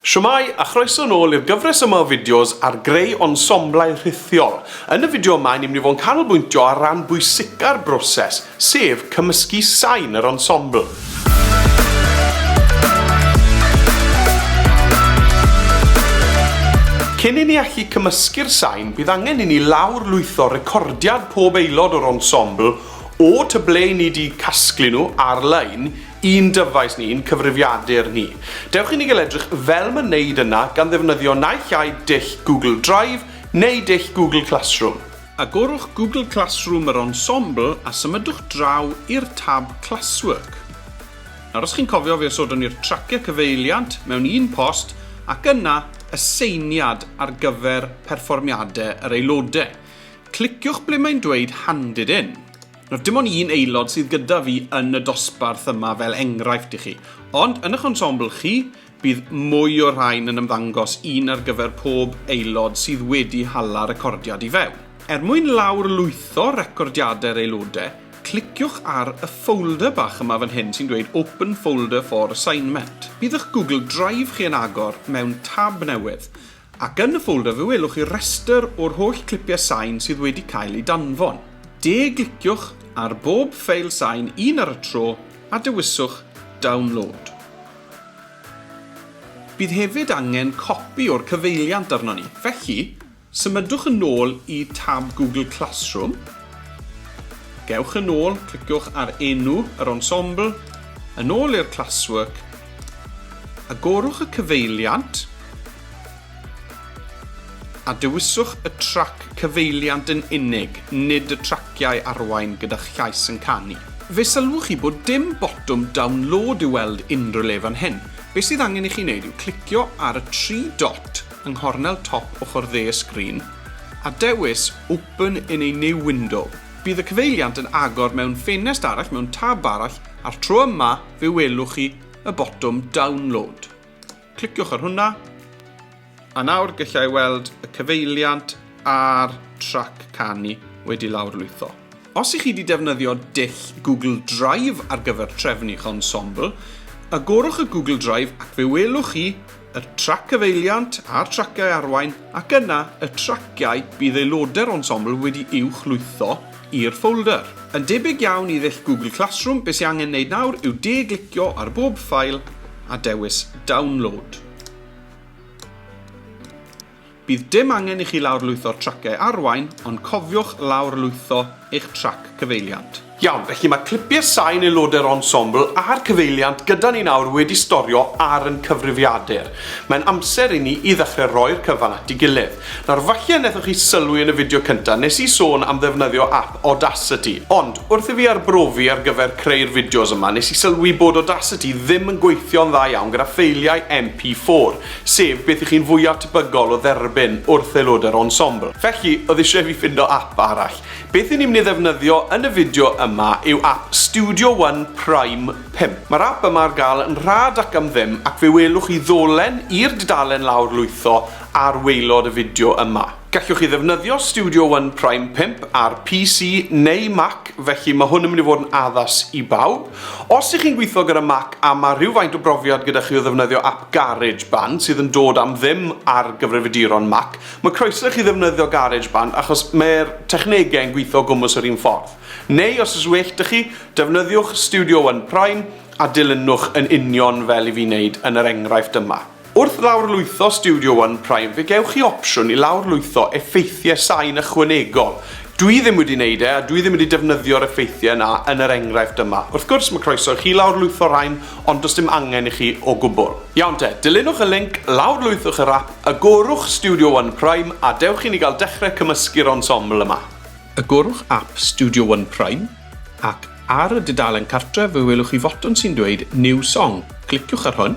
Shwmae, a chroeso nôl i'r gyfres yma o fideos ar greu ensemblau rhithiol. Yn y fideo yma, ni'n mynd i fod yn canolbwyntio ar ran bwysica'r broses, sef cymysgu sain yr ensemble. Cyn i ni allu cymysgu'r sain, bydd angen i ni lawr-lwytho recordiad pob aelod o'r ensemble, o tŷ ble 'yn ni 'di casglu nhw, ar-lein, I'n dyfais ni, i'n cyfrifiadur ni. Dewch i ni gael edrych fel mae'n neud yna gan ddefnyddio naill ai dull Google Drive neu dull Google Classroom. Agorwch Google Classroom yr Ensemble a symudwch draw i'r tab Classwork. Nawr os chi'n cofio fe osodwn ni'r traciau cyfeiliant mewn un post ac yna aseiniad ar gyfer perfformiadau yr aelodau. Cliciwch ble mae'n dweud Handed In. Nawr, dim ond un aelod sydd gyda fi yn y dosbarth yma fel enghraifft i chi, ond yn ych ensemble chi, bydd mwy o'r rhain yn ymddangos, un ar gyfer pob aelod sydd wedi hala recordiad i fewn. Er mwyn lawrlwytho recordiadau'r aelodau, cliciwch ar y ffolder bach yma fan hyn sy'n dweud 'Open folder for assignment'. Bydd eich Google Drive chi yn agor mewn tab newydd. Ac yn y ffolder fe welwch chi restr o'r holl clipiau sain sydd wedi cael eu danfon. De-gliciwch ar bob ffeil sain un ar y tro a dewiswch 'Download'. Bydd hefyd angen copi o'r cyfeiliant arnon ni, felly, symudwch yn ôl i tab Google Classroom, gewch yn ôl, cliciwch ar enw yr ensemble, yn ôl i'r Classwork, agorwch y cyfeiliant, A dewiswch y trac cyfeiliant yn unig, nid y traciau arwain gyda'ch llais yn canu. Fe sylwch chi bod dim botwm download i'w weld unrhyw le fan hyn. Be sydd angen i chi wneud yw clicio ar y tri dot yng nghornel top ochr dde y sgrin, a dewis Open in a new window. Bydd y cyfeiliant yn agor mewn ffenest arall mewn tab arall, a'r tro yma fe welwch chi y botwm download. Cliciwch ar hwnna. A nawr gallai weld y cyfeiliant a'r trac canu wedi lawrlwytho. Os ych chi wedi defnyddio dull Google Drive ar gyfer trefnu eich ensemble, agorwch y Google Drive ac fe welwch chi y trac cyfeiliant a'r traciau arwain ac yna y traciau bydd aelodau'r ensemble wedi uwch lwytho i'r ffoldr. Yn debyg iawn i ddull Google Classroom, be sy angen neud nawr yw de-glicio ar bob ffail a dewis Download. Bydd dim angen i chi lawrlwytho'r traciau arwain, ond cofiwch lawrlwytho eich trac cyfeiliant. Iawn, felly mae clipiau sain aelodau'r ensemble a'r cyfeiliant gyda ni nawr wedi storio ar yn cyfrifiadur. Mae'n amser i ni i ddechrau roi'r cyfan at ei gilydd. Nawr, falle wnaethoch chi sylwi yn y fideo cyntaf, nes i sôn am ddefnyddio ap Audacity. Ond, wrth i fi arbrofi ar gyfer creu'r fideos yma, nes i sylwi bod Audacity ddim yn gweithio'n dda iawn gyda ffeiliau MP4, sef beth y'ch chi'n fwyaf tebygol o dderbyn wrth aelodau'r ensemble. Felly, oedd isie i fi ffindo ap arall. Beth i ni'n mynd i ddefnyddio yn y fideo yma yw ap Studio One Prime 5. Mae'r ap yma ar gael yn rhad ac am ddim, ac fe welwch chi ddolen i'r dudalen lawr lwytho ar waelod y fideo yma. Gallwch chi ddefnyddio Studio One Prime 5 ar PC neu Mac, felly mae hwn yn mynd i fod yn addas i bawb. Os ych chi'n gweithio gyda Mac a mae rhywfaint o brofiad gyda chi o ddefnyddio ap GarageBand sydd yn dod am ddim ar gyfrifiaduron Mac, mae croeso i chi ddefnyddio GarageBand achos mae'r technegau yn gweithio o gwmws yr un ffordd. Neu, os oes well 'da chi, defnyddiwch Studio One Prime a dilynwch yn union fel i fi wneud yn yr enghraifft yma. Wrth lawrlwytho Studio One Prime fe gewch chi opsiwn i lawrlwytho effeithiau sain ychwanegol. Dwi ddim wedi wneud e a dwi ddim wedi defnyddio'r effeithiau yna yn yr enghraifft yma. Wrth gwrs, mae croeso i chi lawrlwytho rhain ond does dim angen i chi o gwbl. Iawn te, dilynwch y linc, lawrlwythwch yr ap, agorwch Studio One Prime a dewch i ni gael dechrau cymysgu'r ensemble yma. Agorwch ap Studio One Prime ac ar y dudalen cartref fe welwch chi fotwm sy'n dweud New Song, cliciwch ar hwn.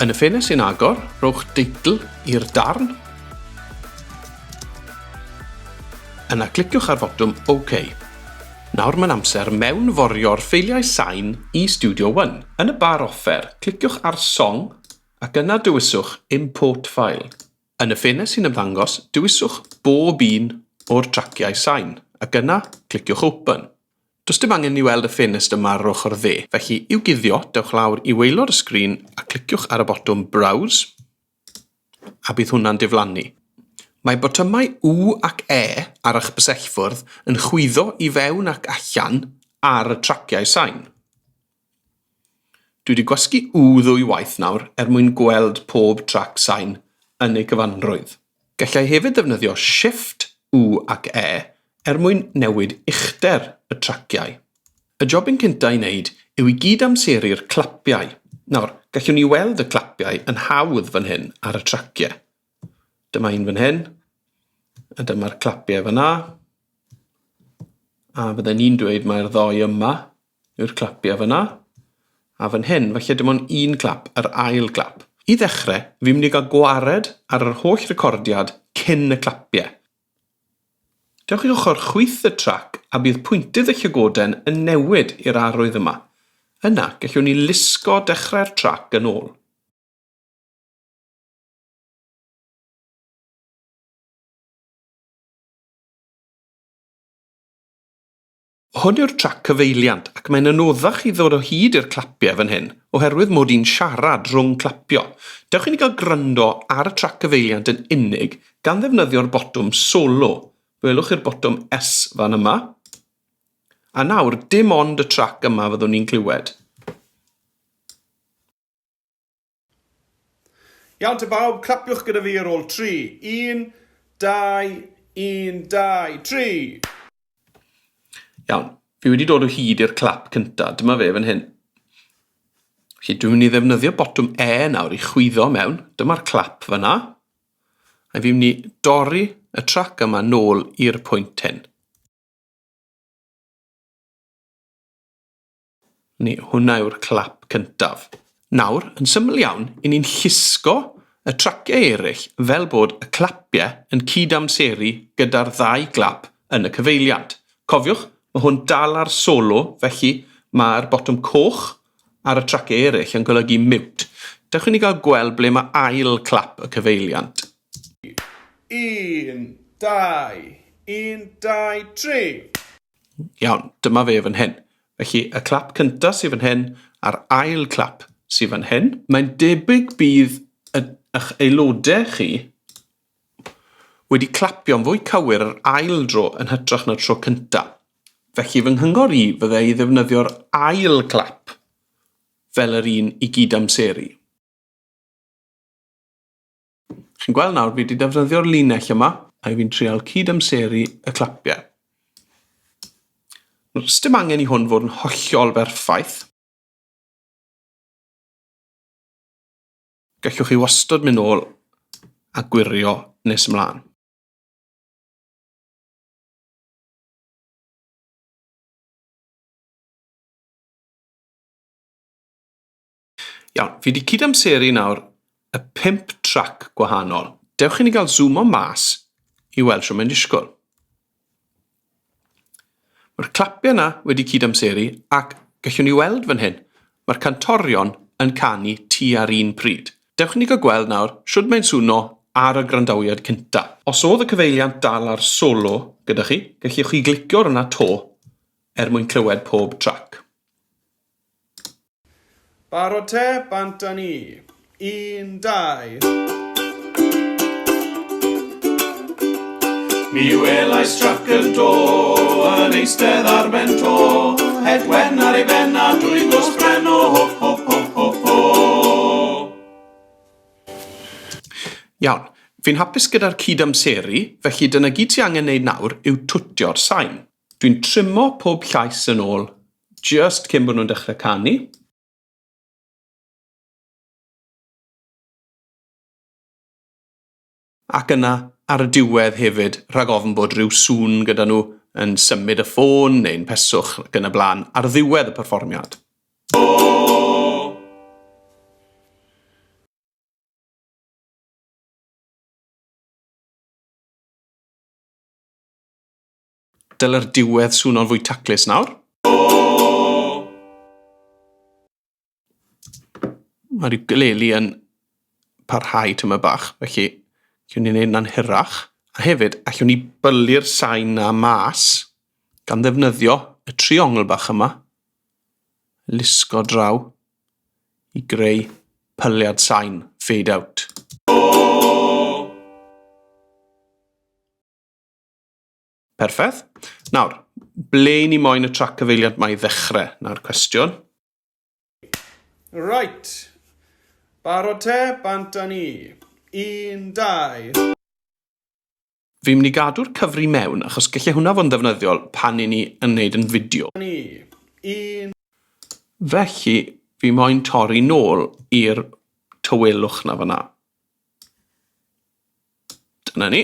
Yn y ffenest sy'n agor, rhowch deitl i'r darn. Yna cliciwch ar fotwm OK. Nawr mae'n amser mewnforio'r ffeiliau sain i Studio One. Yn y bar offer, cliciwch ar Song ac yna dewiswch Import File. Yn y ffenest sy'n ymddangos, dewiswch bob un o'r traciau sain, ac yna, cliciwch Open. Does dim angen i ni weld y ffenest yma ar yr ochr dde, felly, i'w guddio, dewch lawr i waelod y sgrin a cliciwch ar y botwm Browse, a bydd hwnna'n diflannu. Mae botymau U ac E ar eich bysellfwrdd yn chwyddo i fewn ac allan ar y traciau sain. Dwi wedi gwasgu U ddwy waith nawr er mwyn gweld pob trac sain yn ei gyfanrwydd. Gallai hefyd ddefnyddio Shift U ac E er mwyn newid uchder y traciau. Y jobyn cynta i wneud yw i gyd-amseru'r clapiau. Nawr, gallwn ni weld y clapiau yn hawdd fan hyn ar y traciau. Dyma un fan hyn, a dyma'r clapiau fan'na. A fydden i'n dweud mai'r ddou yma Yr clapiau fyna. A fan hyn, falle dim ond un clap, yr ail glap. I ddechrau, fi'n mynd i gael gwared ar yr holl recordiad cyn y clapiau. Dewch i ochr chwith y trac a bydd pwyntydd y llygoden yn newid i'r arwydd yma. Yna, gellwn ni lusgo dechrau'r trac yn ôl. Hwn yw'r trac cyfeiliant ac mae'n anoddach i ddod o hyd i'r clapiau fan hyn oherwydd mod i'n siarad rhwng clapio. Dewch i ni gael gwrando ar y trac cyfeiliant yn unig gan ddefnyddio'r botwm solo. Gwelwch chi'r botwm S fan yma? A nawr, dim ond y trac yma fyddwn ni'n clywed. Iawn te bawb, clapiwch gyda fi ar ôl tri. Un, dau, un, dau, tri! Iawn, fi wedi dod o hyd i'r clap cyntaf, dyma fe fan hyn. Felly dwi'n mynd i ddefnyddio botwm E nawr i chwyddo mewn, dyma'r clap fanna. A fi'n mynd i dorri y trac yma nôl i'r pwynt hyn. Ni, hwnna yw'r clap cyntaf. Nawr, yn syml iawn, i ni'n llusgo y traciau eraill fel bod y clapiau yn cyd-amseru gyda'r ddau glap yn y cyfeiliant. Cofiwch, mae hwn dal ar solo, felly mae'r botwm coch ar y traciau eraill yn golygu mute. Dewch i ni gael gweld ble mae ail clap y cyfeiliant. Un, dau, un, dau, tri! Iawn, dyma fe fan hyn. Felly, y clap cyntaf sydd fan hyn a'r ail clap sydd fan hyn. Mae'n debyg bydd eich aelodau chi wedi clapio'n fwy cywir yr ail dro yn hytrach na'r tro cyntaf. Felly fy nghyngor i fyddai i ddefnyddio'r ail glap fel yr un i gyd-amseru. Chi'n gweld nawr, fi wedi defnyddio'r linell yma, a fi'n trial cyd-amseru y clapiau. Rhaid dim angen i hwn fod yn hollol berffaith. Gallwch chi wastod mynd ôl a gwirio nes ymlaen. Iawn, fi wedi cydamseru nawr y pump trac gwahanol. Dewch i ni gael zoom o mas i weld sio mae'n disgwyl. Mae'r clapiau yna wedi cydamseru ac gallwn ni weld fan hyn, mae'r cantorion yn canu tu ar un pryd. Dewch i ni gael gweld nawr sio mae'n swno ar y grandawiad cynta. Os oedd y cyfeiliant dal ar solo gyda chi, gallwch chi glicio ar hwnna to er mwyn clywed pob trac. Barod te, bant a ni. Un, dau. Mi welai strac yn do, yn eistedd ar ben to, het wen ar ei ben a dwy gos bren o ho ho ho ho ho. Iawn, fi'n hapus gyda'r cyd-amseru, felly dyna gyd ti angen neud nawr yw twtio'r sain. Dwi'n trimo pob llais yn ôl Jyst cyn bod nhw'n dechrau canu. Ac yna, ar y diwedd hefyd, rhag ofn bod rhyw sŵn gyda nhw yn symud y ffôn neu'n peswch ac yn y blaen ar ddiwedd y perfformiad. Dylai'r diwedd swno'n fwy taclus nawr. Mae'r ukulele yn parhau tyma bach, felly gwn ni'n ei wneud na'n hyrach. A hefyd, allwn ni bylu'r sain na mas gan ddefnyddio y triongl bach yma, lusgo draw i greu pyliad sain, fade out. Perffaith. Nawr, ble i ni moyn y trac cyfeiliant mae i ddechrau? Nawr cwestiwn. Right. Barod te, bant a ni. Un, dau. Fi'n mynd i gadw'r cyfri mewn achos gallai hwnna fod yn ddefnyddiol pan i ni yn wneud yn fideo. Ni. Un. Felly, fi moyn torri nôl i'r tywelwch na fyna. Dyna ni.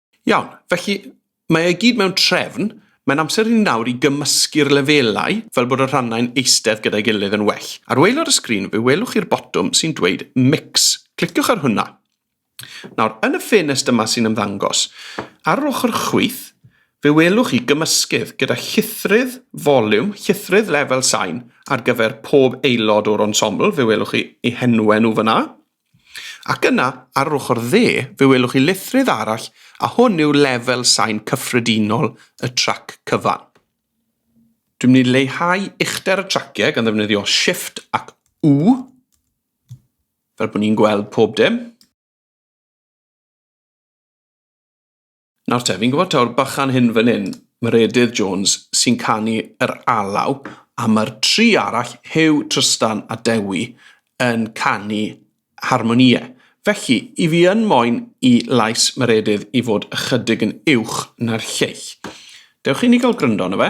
Iawn, felly mae e i gyd mewn trefn, mae'n amser i ni nawr i gymysgu'r lefelau fel bod y rhannau'n eistedd gyda'i gilydd yn well. Ar waelod y sgrin fe welwch chi'r botwm sy'n dweud 'Mix', cliciwch ar hwnna. Nawr, yn y ffenest yma sy'n ymddangos, ar yr ochr chwith, fe welwch chi gymysgydd gyda llithrydd foliwm, llithrydd lefel sain ar gyfer pob aelod o'r ensemble, fe welwch chi eu henwau nhw fan'na. Ac yna, ar yr ochr dde, fe welwch chi lithrydd arall a hwn yw lefel sain cyffredinol y trac cyfan. Dwi'n mynd i leihau uchder y traciau gan ddefnyddio Shift ac U, fel bod ni'n gweld pob dim. Nawr te, fi'n gwybod taw'r bychan hyn fan hyn, Meredydd Jones, sy'n canu yr alaw, a mae'r tri arall, Huw, Trystan a Dewi, yn canu harmonïau. Felly, i fi yn moyn i lais Meredydd i fod ychydig yn uwch na'r lleill. Dewch i ni gael gryndo yna fe.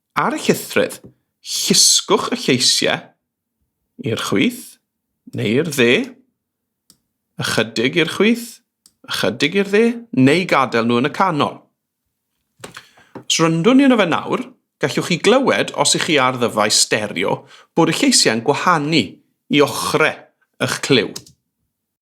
Ar y llythryd, llusgwch y lleisiau i'r chwith neu i'r dde, ychydig i'r chwith, ychydig i'r dde, neu gadael nhw yn y canol. Os ryndwn ni yno fe nawr, gallwch chi glywed, os ych chi ar ddyfais stereo, bod y lleisiau'n gwahanu i ochrau y'ch clyw.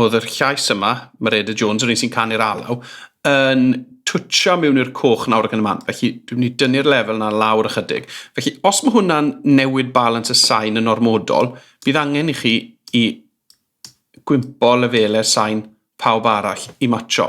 oedd yr llais yma, Mareda Jones, yr un sy'n canu'r alaw, yn twtio mewn i'r coch nawr ac yn y man. Felly, dwi'n mynd i dynnu'r lefel yna lawr ychydig. Felly, os mae hwnna'n newid balans y sain yn ormodol, bydd angen i chi i gwympo lefelau'r sain pawb arall i matcho.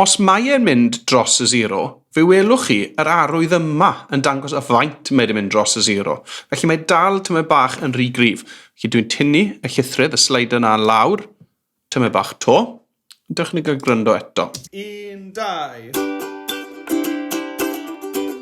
Os mae e'n mynd dros y sero, fe welwch chi yr arwydd yma yn dangos y faint mae 'di mynd dros y sero. Felly mae dal tymed bach yn rhy gryf. Felly dwi'n tynnu y llithrydd, y slider 'na lawr tymed bach 'to. Dewch i ni gael gwrando eto. Un, dau.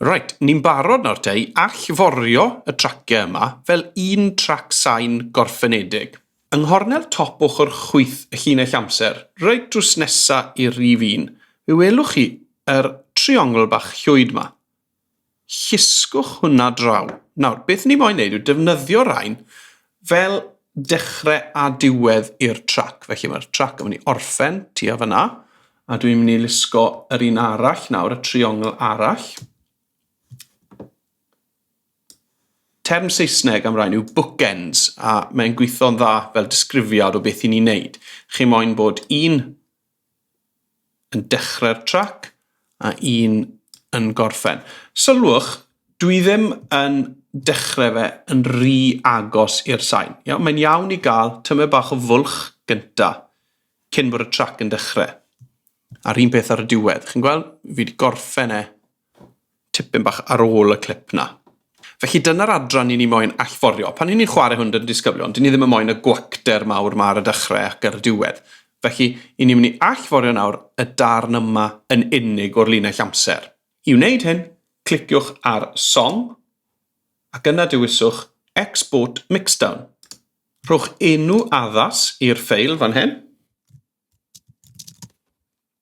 Reit, ni'n barod nawr te i allforio y traciau yma fel un trac sain gorffenedig. Yng nghornel top ochr chwith y llinell amser, reit drws nesa i'r rhif un, fe welwch chi yr triongl bach llwyd 'ma. Llusgwch hwnna draw. Nawr, beth ni moyn neud yw defnyddio rain fel dechrau a diwedd i'r trac. Felly mae'r trac yn mynd i orffen tua fyna, a dwi'n mynd i lusgo yr un arall nawr, y triongl arall. Term Saesneg am rhain yw bookends, a mae'n gweithio'n dda fel disgrifiad o beth i ni'n neud. Chi moyn bod un yn dechrau'r trac a un yn gorffen. Sylwch, dwi ddim yn dechrau fe yn rhy agos i'r sain. Iawn? Mae'n iawn i gael tymed bach o fwlch gynta cyn bod y trac yn dechrau. A'r un peth ar y diwedd. Chi'n gweld? Fi wedi gorffen e tipyn bach ar ôl y clip 'na. Felly dyna'r adran i ni moyn allforio. Pan 'yn ni'n chware hwn 'da'n disgyblion, 'dyn ni ddim yn moyn y gwacter mawr 'ma ar y dechre ac ar y diwedd. Felly, 'yn ni'n myn' i allforio nawr y darn yma yn unig o'r linell amser. I wneud hyn, cliciwch ar Song, ac yna dewiswch Export Mixdown. Rhowch enw addas i'r ffeil fan hyn.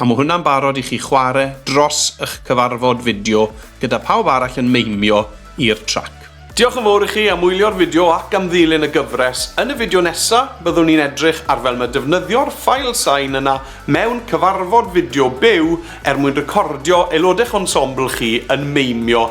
A mae hwnna'n barod i chi chwarae dros ych cyfarfod fideo gyda phawb arall yn meimio i'r trac. Diolch yn fawr i chi am wylio'r fideo ac am ddilyn y gyfres. Yn y fideo nesa, byddwn ni'n edrych ar fel mae defnyddio'r ffail sain yna mewn cyfarfod fideo byw er mwyn recordio aelodech ensemble chi yn meimio